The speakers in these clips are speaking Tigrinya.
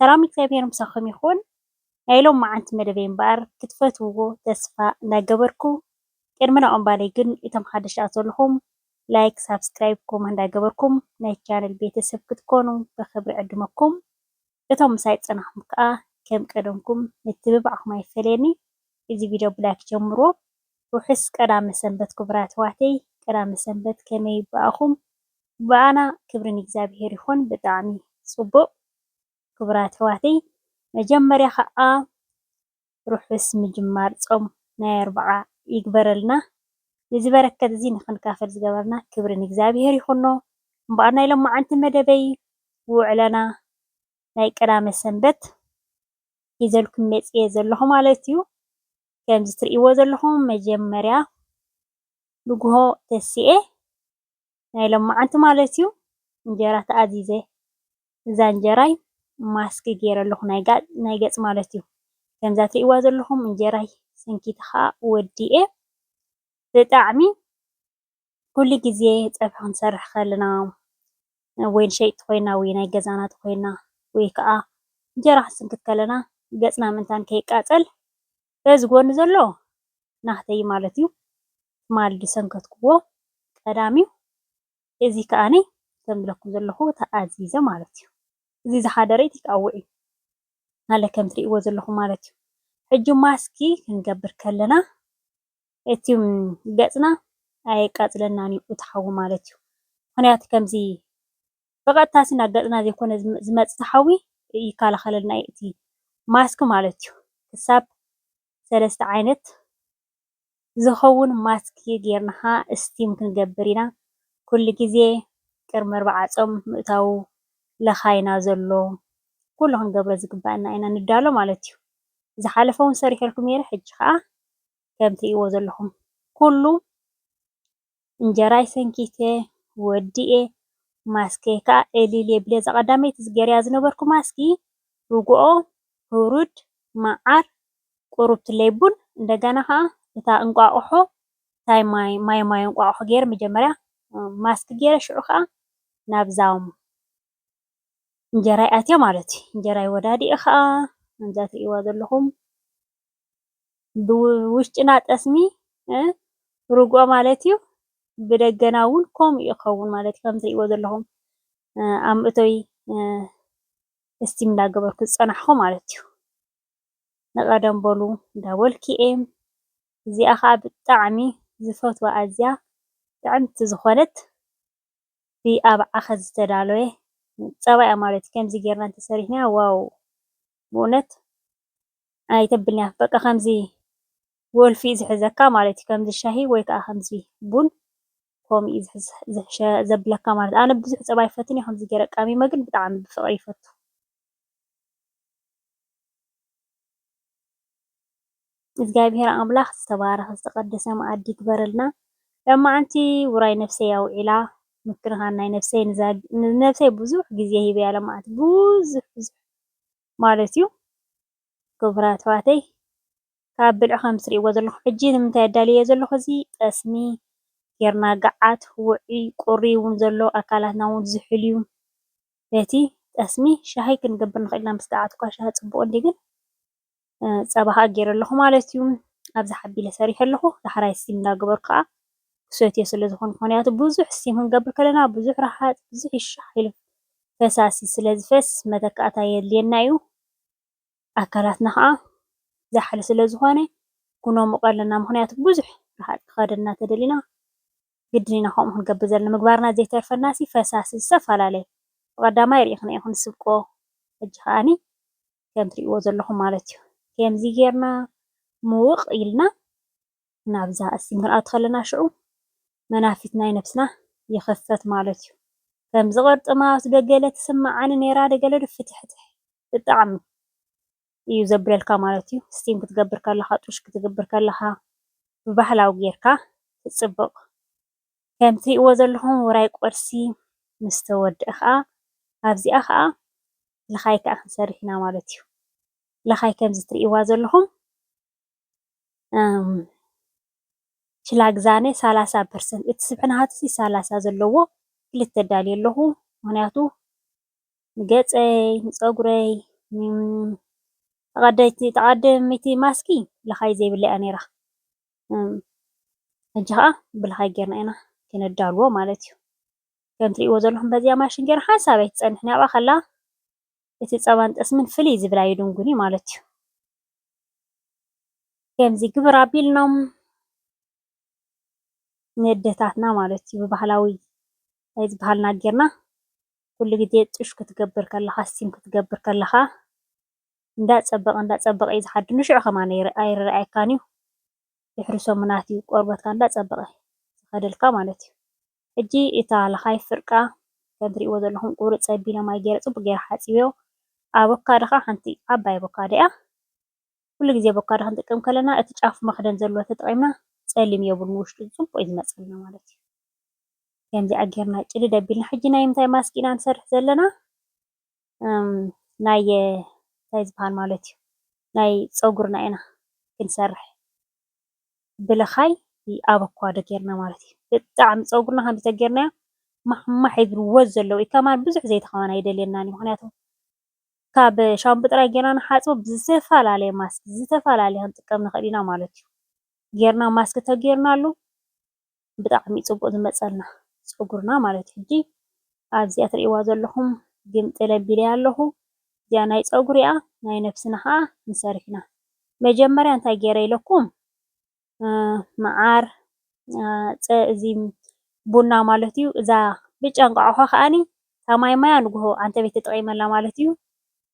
ሰላም እግዚኣብሔር ምሳኩም ይኩን ናይ ሎምዓንቲ መደበይ እምበኣር ክትፈትውዎ ተስፋ እንዳገበርኩ ቅድሚ ናኦም ባለይ ግን እቶም ሓደሽቲ ዝኣቱ ዘለኩም ላይክ ሳብስክራይብ ኮመንት እንዳገበርኩም ናይቲ ቻነል ቤተሰብ ክትኮኑ ብክብሪ ዕድመኩም እቶም ምሳይ ዝጸናሕኩም ከኣ ከም ቀደምኩም ምትብባዕኩም ኣይፈለየኒ እዚ ቪድዮ ብላይክ ጀምርዎ ርሑስ ቀዳመ ሰንበት ክቡራት ኣሕዋተይ ቀዳመ ሰንበት ከመይ ብኣኹም ብኣና ክብሪ ንእግዚኣብሔር ይኹን ብጣዕሚ ጽቡቕ ክቡራት ኣሕዋተይ መጀመርያ ኸኣ ርሑስ ምጅማር ጾም ናይ ኣርብዓ ይግበረልና ነዚ በረከት እዚ ንኽንካፈል ዝገበረና ክብሪ ንእግዚኣብሔር ይኹኖ እምበኣር ናይ ሎማዓንቲ መደበይ ውዕለና ናይ ቀዳመ ሰንበት ሒዘልኩም መጽየ ዘለኹ ማለት እዩ ከምዚ ትርእይዎ ዘለኹም መጀመርያ ንጉሆ ተሲኤ ናይ ሎማዓንቲ ማለት እዩ እንጀራ ተኣዚዘ እዛ እንጀራይ ማስክ ገይረ ኣለኹ ናይ ገፅ ማለት እዩ ከምዛ ትርእይዋ ዘለኹም እንጀራይ ሰንኪቲ ኸዓ ወዲኤ ብጣዕሚ ኩሉ ግዜ ፀብሒ ክንሰርሕ ከለና ወይ ንሸየጥቲ ኮይና ወይ ናይ ገዛና እንተኾይና ወይ ከዓ እንጀራ ክንስንክት ከለና ገፅና ምእንታን ከይቃፀል በዚ ጎኒ ዘሎ ናህተይ እዩ ማለት እዩ። ትማሊ ዝሰንከትክዎ ቀዳም እዩ። እዚ ከዓኒ ከም ዝብለኩም ዘለኹ ተኣዚዘ ማለት እዩ። እዚ ዝሓደረ ቴክኣወ እዩ ማለት ከም እትሪእዎ ዘለኹም ማለት እዩ። ሕጂ ማስኪ ክንገብር ከለና እቲ ገጽና ኣየቃጽለናን እዩ እቲ ሓዊ ማለት እዩ። ምኽንያቱ ከምዚ ብቐጥታ ናብ ገጽና ዘይኮነ ዝመጽእ እቲ ሓዊ ይከላኸለልና እዩ እቲ ማስክ ማለት እዩ። ክሳብ ሰለስተ ዓይነት ዝኸውን ማስክ ጌርና እስቲም ክንገብር ኢና ኩሉ ግዜ ቅድሚ ኣርብዓ ጾም ምእታዉ ለኻይና ዘሎ ኩሉ ክንገብሮ ዝግባኣና ኢና ንዳሎ ማለት እዩ። ዝሓለፈ ዉን ሰሪሐልኩም ኔረ ሕጂ ከኣ ከም ትሪእዎ ዘለኩም ኩሉ እንጀራይ ሰንኪተ ወዲኤ ማስከይ ከኣ ዕልል የብለ እዛ ቀዳመይቲ ገርያ ዝነበርኩ ማስኪ ርጉኦ ሁሩድ መዓር ቁሩብትለይ ቡን እንደገና ከኣ እታ እንቋቁሖ ታይ ማይ ማይ ማይ እንቋቁሖ ጌረ መጀመርያ ማስኪ ጌረ ሽዑ ከኣ ናብዛ እንጀራ ይኣትዮ ማለት እዩ። እንጀራ ይወዳድኡ ከዓ ከምዛ ትሪእዋ ዘለኹም ብውሽጥና ጠስሚ ርግኦ ማለት እዩ። ብደገና እውን ከምኡ እዩ ክኸውን ማለት እዩ። ከም ትሪእዎ ዘለኹም ኣብ መእተዊ እስቲም እንዳገበርኩ ዝፀናሕኹ ማለት እዩ። ንቐደም በሉ እንዳበልኩ እየ። እዚኣ ከዓ ብጣዕሚ ዝፈትዋ ኣዝያ ጥዕምቲ ዝኾነት ብ ኣብዓኸ ዝተዳለወ ፀባ እያ ማለትዩ ከምዚ ገይርና እንተሰሪሕናያ ዋው ብእውነት ኣይተብልንያ በቃ ከምዚ ወልፊ እዩ ዝሕዘካ ማለት እዩ ከምዚ ሻሂ ወይ ከዓ ከምዚ ቡን ከምኡ እዩ ዘብለካ ማለት ኣነ ብዙሕ ፀባ ኣይፈትን እየ ከምዚ ገይረ ቀሚመ ግን ብጣዕሚ ብፍቅሪ ይፈቱ። እግዚኣብሔር ኣምላክ ዝተባረከ ዝተቀደሰ መኣዲ ይግበረልና ሎማዓንቲ ውራይ ነብሰይ ኣውዒላ ምክንካን ናይ ነብሰይ ንነብሰይ ብዙሕ ግዜ ሂበያ ሎማዓንቲ ብዙሕ ብዙሕ ማለት እዩ ክቡራት ኣሕዋተይ ካብ ብልዒ ከምቲ ትሪእዎ ዘለኩም ሕጂ ንምንታይ ኣዳልየዮ ዘለኩ እዚ ጠስሚ ገይርና ጋዓት ውዑይ ቁሪ እውን ዘሎ ኣካላትና እውን ዝሑል እዩ። ቤቲ ጠስሚ ሻሂ ክንገብር ንኽእል ኢና ምስ ገዓትኳ ሻሂ ጽቡቕ እንድዩ ግን ጸባ ከኣ ጌረ ኣለኹ ማለት እዩ ኣብዚ ሓቢለ ሰሪሐ ኣለኹ ዳሕራይ ስቲም እንዳገበርኩ ከኣ ክሰትዮ ስለ ዝኾንኩ ምኽንያቱ ብዙሕ ስቲም ክንገብር ከለና ብዙሕ ረሃጽ ብዙሕ ይሻሕ ኢሉ ፈሳሲ ስለ ዝፈስ መተካእታ የድልየና እዩ ኣካላትና ከኣ ዛሕሊ ስለ ዝኾነ ኩነሙቆ ኣለና ምኽንያቱ ብዙሕ ረሃጽ ክኸደና ተደሊና ግድን ኢና ከምኡ ክንገብር ዘለና ምግባርና ዘይተርፈናሲ ፈሳሲ ዝተፈላለየ ብቀዳማይ ሪኢክና ኢኩን ንስብኮ ሕጂ ከኣኒ ከም ትሪእዎ ዘለኩም ማለት እዩ ኬምዚ ጌርና ምውቅ ኢልና ናብዛ እስቲም ክንኣቱ ከለና ሽዑ መናፊት ናይ ነብስና ይክፈት ማለት እዩ ከምዚ ቅርጥማት ዶ ገለ ትስመዓኒ ኔራ ዶ ገለ ዶ ፍትሕትሕ ብጣዕሚ እዩ ዘብለልካ ማለት እዩ ስቲም ክትገብር ከለኻ ጡሽ ክትግብር ከለኻ ብባህላዊ ጌርካ ትጽብቕ ከም ትሪእዎ ዘለኹም ውራይ ቁርሲ ምስ ተወድኣ ኸኣ ኣብዚኣ ኸኣ ልኻይ ከኣ ክንሰርሕ ኢና ማለት እዩ ልኻይ ከምዚ ትሪእዋ ዘለኹም ችላግዛነ ሰላሳ ፐርሰንት እቲ ስብሕና ሃትሲ ሰላሳ ዘለዎ ክልተ ዳልየ ኣለኹ ምኽንያቱ ንገጸይ፣ ንጸጉረይ፣ ተቐዳይት ተቐዳሚት ማስኪ ልኻይ ዘይብላ እያ ኔራ። ሕጂ ከኣ ብልኻይ ጌርና ኢና ክነዳልዎ ማለት እዩ። ከም ትርእይዎ ዘለኹም በዚኣ ማሽን ጌርና ሓንሳብ ኣይትጸንሕን እያ ኣብኣ ከላ እቲ ጸባን ጠስምን ፍልይ ዝብል ኣይድንጉን እዩ ማለት እዩ። ከምዚ ግብር ኣቢልናም ነደታትና ማለት እዩ ብባህላዊ ናይ ዝበሃልና ጌርና ኩሉ ግዜ ጡሽ ክትገብር ከለካ ስቲም ክትገብር ከለካ እንዳ ጸበቀ እንዳ ጸበቀ እዩ ዝሓድር ንሽዑ ከማን ኣይርኣየካን እዩ ድሕሪ ሰሙናት እዩ ቆርበትካ እንዳ ጸበቀ ዝከደልካ ማለት እዩ ሕጂ እታ ለካይ ፍርቃ ከም ትሪእዎ ዘለኩም ቁሩጽ ጸቢለ ማይ ገይረ ጽቡቅ ገይረ ሓጺበዮ ኣበካዶ ከኣ ሓንቲ ዓባይ ኣበካዶ እያ ኩሉ ግዜ ኣቮካዶ ክንጥቀም ከለና እቲ ጫፉ መኽደን ዘለዎ ተጠቒምና ጸሊም የብሉን ውሽጡ ጽቡቕ እዩ ዝመጸልና ማለት እዩ። ከምዚኣ ጌርና ጭድድ ኣቢልና ሕጂ ናይ ምንታይ ማስክ ኢና ንሰርሕ ዘለና ናይ እንታይ ዝበሃል ማለት እዩ ናይ ጸጉርና ኢና ክንሰርሕ ብልኻይ ኣበኳዶ ጌርና ማለት እዩ። ብጣዕሚ ጸጉርና ከምዚ ተጌርናዮ ማሕማሕ ይብል ወዝ ዘለዎ እዩ። ከማን ብዙሕ ዘይተኸማን ኣይደልየናን እዩ ምክንያቱ ካብ ሻምፖ ጥራይ ጌርና ንሓጽቦ ብዝተፈላለየ ማስክ ዝተፈላለየ ክንጥቀም ንኽእል ኢና ማለት እዩ። ጌርና ማስክ ተጌርናሉ ብጣዕሚ እዩ ጽቡቕ ዝመጸልና ጸጉርና ማለት እዩ። ሕጂ ኣብዚኣ ትርእይዋ ዘለኹም ግምጥል ኣቢለያ ኣለኹ እዚኣ ናይ ጸጉሪ እያ ናይ ነብስና ኸኣ ክንሰርሕ ኢና። መጀመርያ እንታይ ጌረ ኢለኩም መዓር እዚ ቡና ማለት እዩ። እዛ ብጫ እንቋቑሖ ከኣኒ እታ ማይ ማያ ንግሆ ዓንተበይ ተጠቒመላ ማለት እዩ።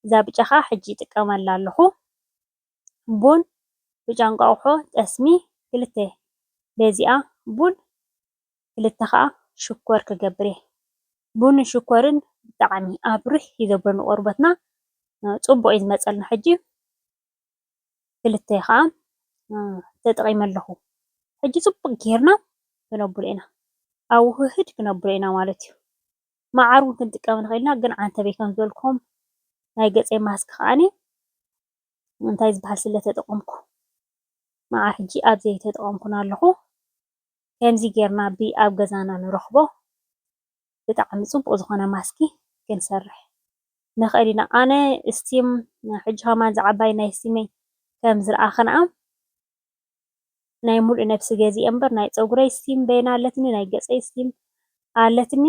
እዛ ብጫ ከዓ ሕጂ ይጥቀመላ ኣለኹ። ቡን፣ ብጫ እንቋቑሖ፣ ጠስሚ ክልተ በዚኣ ቡን ክልተ ከዓ ሽኮር ክገብር እየ። ቡንን ሽኮርን ብጣዕሚ ኣብርህ እዩ ዘብሎ ንቆርበትና ፅቡቕ እዩ ዝመፀልና ሕጂ። ክልተ ከኣ ተጠቒመ ኣለኹ። ሕጂ ጽቡቕ ጌርና ክነብሎ ኢና፣ ኣብ ውህህድ ክነብሎ ኢና ማለት እዩ። መዓር እውን ክንጥቀም ንኽእል ኢና፣ ግን ዓንተበይ ከም ዝበልክዎም ናይ ገጸይ ማስክ ከኣ እንታይ ዝበሃል ስለ ተጠቐምኩ መዓር ሕጂ ኣብ ዘይተጠቐምኩን ኣለኹ። ከምዚ ጌርና ብኣብ ገዛና ንረኽቦ። ብጣዕሚ ጽቡቅ ዝኮነ ማስኪ ክንሰርሕ ንክእል ኢና ኣነ እስቲም ሕጂ ከማን እዛ ዓባይ ናይ እስቲመይ ከም ዝረኣክንኣ ናይ ሙሉእ ነብሲ ገዚኤ እምበር ናይ ጸጉረይ እስቲም በይና ኣለትኒ ናይ ገጸይ እስቲም ኣለትኒ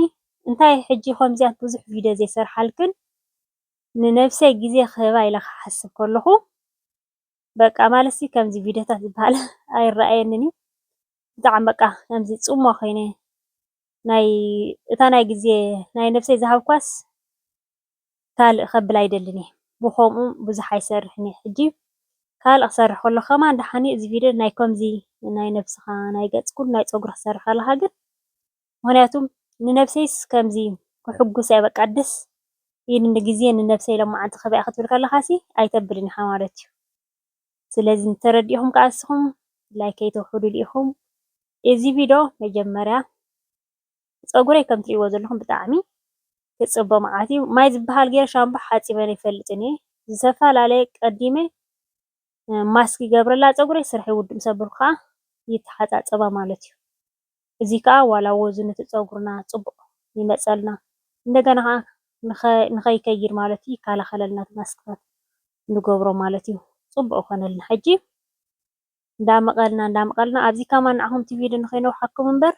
እንታይ ሕጂ ከምዚያት ብዙሕ ቪድዮ ዘይሰርሓልክን ንነብሰይ ግዜ ክህባ ኢለ ክሓስብ ከለኩ በቃ ማለትሲ ከምዚ ቪድዮታት ዝበሃል ኣይረኣየንን እዩ ብጣዕሚ በቃ ከምዚ ጽምዋ ኮይነ ናይ እታ ናይ ግዜ ናይ ነብሰይ ዝሃብኳስ ካልእ ከብል ኣይደልን እየ ብኮምኡ ብዙሕ ኣይሰርሕን እየ ሕጂ ካልእ ክሰርሕ ከለኩ ከማን ደሓን እዩ እዚ ቪድዮ ናይ ከምዚ ናይ ነብስካ ናይ ገጽ ኩሉ ናይ ጸጉሪ ክትሰርሕ ከለካ ግን ምክንያቱ ንነብሰይስ ከምዚ ከሕጉስ እያ በቃ ደስ ኢልኒ ግዜ ንነብሰይ ሎማዓንቲ ክህባ እየ ክትብል ከለካሲ ኣይተብልን ኢካ ማለት እዩ ስለዚ እንተተረዲእኹም ከኣ ንስኹም ላይክ ከይተውሕዱሉ ኢኹም እዚ ቪዶ መጀመርያ ጸጉረይ ከም ትርእይዎ ዘለኹም ብጣዕሚ ክጽቦ መዓት እዩ ማይ ዝበሃል ገይረ ሻምፖ ሓጺበ ኣይፈልጥን እየ ዝተፈላለየ ቀዲመ ማስክ ይገብረላ ጸጉረይ ስርሐይ ውድም ሰብር ከኣ ይተሓጻጸባ ማለት እዩ እዚ ከኣ ዋላ ወዙ ንቲ ጸጉርና ጽቡቕ ይመጸልና እንደገና ከኣ ንኸይከይድ ማለት እዩ ይከላኸለልና እቲ ማስክታት ንገብሮ ማለት እዩ ጽቡቕ ይኾነልና ሕጂ እንዳመቐልና እንዳመቐልና ኣብዚ ከማን ንዓኹም እቲ ቪድዮ ንኸይነውሓኩም እምበር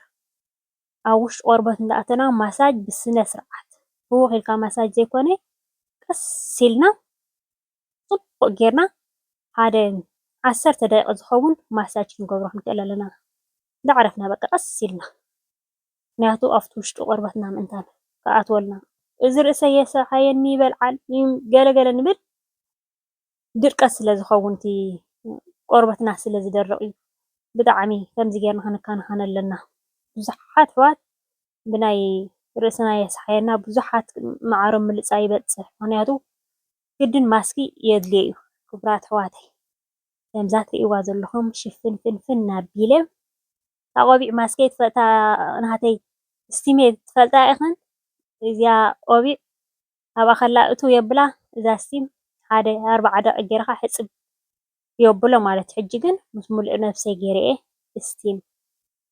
ኣብ ውሽጢ ቆርበት እንዳኣተና ማሳጅ ብስነ ስርዓት ህውኽ ኢልካ ማሳጅ ዘይኮነ ቀስ ኢልና ጽቡቕ ጌርና ሓደ ዓሰርተ ደቂቕ ዝኸውን ማሳጅ ክንገብሮ ክንክእል ኣለና። እንዳዕረፍና በቃ ቀስ ኢልና ምክንያቱ ኣብቲ ውሽጢ ቆርበትና ምእንታን ክኣትወልና እዚ ርእሰይ የስርሓየኒ ይበልዓል ገለ ገለ ንብል ድርቀት ስለ ዝኸውን እቲ ቆርበትና ስለ ዝደርቕ እዩ። ብጣዕሚ ከምዚ ጌርና ክንከናኸን ኣለና። ብዙሓት ኣሕዋት ብናይ ርእስና የስሓየና ብዙሓት መዓሮም ምልጻይ ይበጽሕ ምክንያቱ ግድን ማስኪ የድልዮ ዩ ክቡራት ኣሕዋተይ ከምዛ ትሪእዋ ዘለኩም ሽፍን ፍንፍን ኣቢለ እታ ቆቢዕ ማስከይ ትፈልጣ ናተይ እስቲሜ ትፈልጣ ኢክን እዚኣ ቆቢዕ ኣብኣ ከላ እትው የብላ እዛ እስቲም ሓደ ኣርባዓ ደቂቅ ገይርካ ሕፅብ የብሎ ማለት ዩ ሕጂ ግን ምስ ሙሉእ ነብሰይ ገይረ እየ እስቲም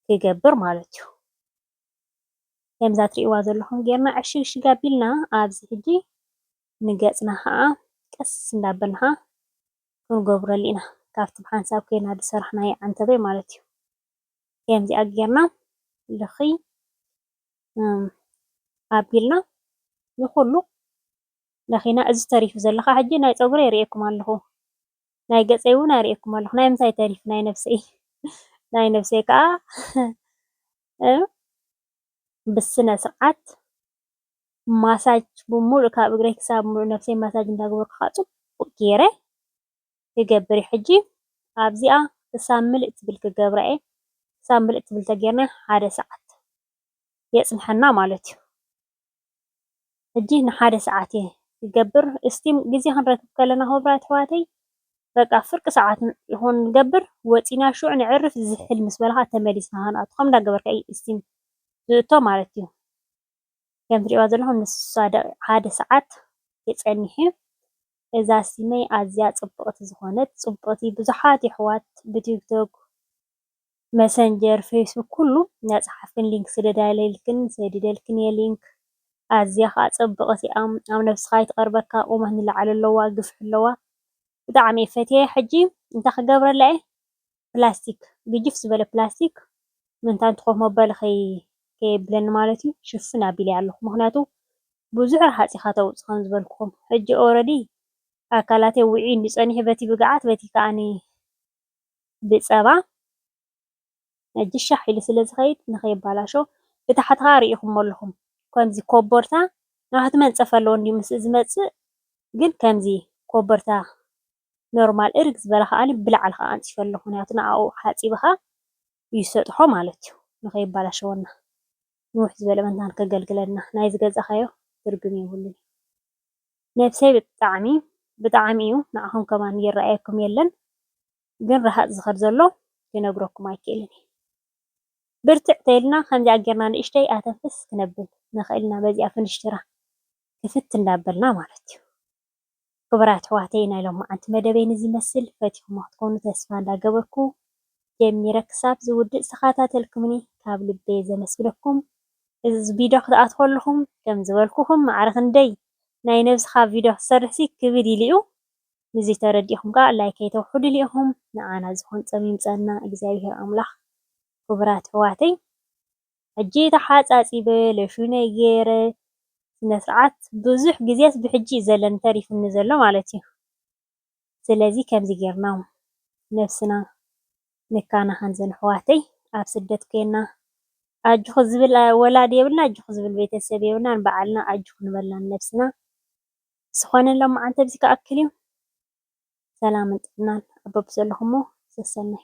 ክገብር ማለት ዩ ከምዛ ትሪእዋ ዘለኩም ገይርና ዕሽግሽግ ኣቢልና ኣብዚ ሕጂ ንገጽና ከኣ ቀስ እንዳበልና ክንጎብረሉ ኢና ካብቲ ብሓንሳብ ኬድና ዝሰራሕናዮ ዓንተበይ ማለት እዩ ከምዚኣ ጌርና ልኽይ ኣቢልና ንኹሉ ለኺና እዚ ተሪፉ ዘሎ ከኣ ሕጂ ናይ ጸጉረይ የርእየኩም ኣለኹ ናይ ገጸይ እውን ኣርእየኩም ኣለኹ ናይ ምንታይ ተሪፉ ናይ ነብሰይ ናይ ነብሰይ ከኣ ብስነ ስርዓት ማሳጅ ብምሉእ ካብ እግረይ ክሳብ ምሉእ ነብሰይ ማሳጅ እንዳገበርኩ ከዓ ፅቡቅ ገይረ ክገብር እየ ሕጂ ኣብዚኣ ክሳብ ምልእ ትብል ክገብራ እየ ክሳብ ምልእ ትብል ተገይርና ሓደ ሰዓት የፅንሐና ማለት እዩ ሕጂ ንሓደ ሰዓት እየ ክገብር እስቲም ግዜ ክንረክብ ከለና ክብራት ኣሕዋተይ በቃ ፍርቂ ሰዓት ይኹን ንገብር ወፂና ሹዕ ንዕርፍ ዝሕል ምስ በልካ ተመሊስና ክንኣቱ ከም እንዳገበርካ እዩ እስቲም ዝእቶ ማለት እዩ ከም ትሪእዋ ዘለኹም ንሳ ሓደ ሰዓት የፀንሕ እዩ። እዛ ሲመይ ኣዝያ ፅብቅቲ ዝኾነት ፅብቅቲ ብዙሓት የሕዋት ብቲክቶክ መሰንጀር ፌስቡክ ኩሉ እናፀሓፍክን ሊንክ ስደዳልክን ሰዲደልክን እየ ሊንክ ኣዝያ ከዓ ፅብቅቲ እያ ኣብ ነብስኻ ኣይትቅርበካ ቁመት ንላዕሊ ኣለዋ ግፍሒ ኣለዋ ብጣዕሚ እየ ፈትየያ ሕጂ እንታይ ክገብረላ እየ? ፕላስቲክ ግጅፍ ዝበለ ፕላስቲክ ምእንቲ ኮፍ መበሊ ከየብለኒ ማለት እዩ ሽፍን ኣቢለያ ኣለኹ። ምክንያቱ ብዙሕ ረሃፅ ኢካ ተውፅእ ከም ዝበልኩኩም ሕጂ ኦረዲ ኣካላተይ ውዕዩ እንድዩ ፀኒሑ በቲ ብግዓት በቲ ከዓ ብፀባ ሕጂ ሻሕ ኢሉ ስለ ዝከይድ ንከይበላሾ ብታሕቲ ከዓ ሪኢኩሞ ኣለኩም ከምዚ ኮቦርታ ናውቲ መንፀፊ ኣለዎ እንድዩ ምስ ዝመፅእ ግን ከምዚ ኮቦርታ ኖርማል እርግ ዝበለ ከኣ ብላዕሊ ከኣ ኣንጽፎ ኣለኩ ምክንያቱ ንኣኡ ሓጺብካ እዩ ዝሰጥሖ ማለት እዩ ንከይባላሸወና ንውሕ ዝበለ መታን ከገልግለና ናይ ዝገዛካዮ ትርጉም የብሉን ነብሰይ ብጣዕሚ ብጣዕሚ እዩ ንዓኩም ከማን ይረኣየኩም የለን ግን ረሃጽ ዝከድ ዘሎ ክነግረኩም ኣይክእልን እየ ብርትዕ ተይልና ከምዚኣ ጌርና ንእሽተይ ኣተንፍስ ክነብል ንክእል ኢና በዚኣ ፍንሽትራ ክፍት እንዳበልና ማለት እዩ። ክቡራት ኣሕዋተይ ናይ ሎማዓንቲ መደበይ ንዚ ይመስል ፈቲኹሞ ክትኮኑ ተስፋ እንዳ ገበርኩ ጀሚረ ክሳብ ዝውድእ ዝተኻታተልኩምኒ ካብ ልበየ ዘመስግነኩም እዚ ቪዶ ክትኣትው ከለኹም ከም ዝበልኩኹም ማዕረ ክንደይ ናይ ነብስኻ ቪዶ ክትሰርሕ ሲ ክብድ ኢሉ እዩ ንዚ ተረዲእኹም ከኣ ላይክ ከይተውሕዱሉ ኢኹም ንዓና ዝኮን ጸም ይምጸና እግዚኣብሄር ኣምላኽ ክቡራት ኣሕዋተይ። ሕጂ ተሓጻጺበ ሎሽነይ ጌረ ስነስርዓት ብዙሕ ግዜስ ብሕጂ እዩ ዘለኒ ተሪፉኒ ዘሎ ማለት እዩ ስለዚ ከምዚ ጌርና ነብስና ንካናኸን ዘን ኣሕዋተይ ኣብ ስደት ኮና ኣጆኺ ዝብል ወላዲ የብልና ኣጆኺ ዝብል ቤተሰብ የብልና ንባዓልና ኣጆኺ ንበልና ንነብስና ስኾነ ሎማዓንቲ ኣብዚ ክኣክል እዩ ሰላምን ጥዕናን ኣብ በብዘለኹሞ ሰሰናዩ።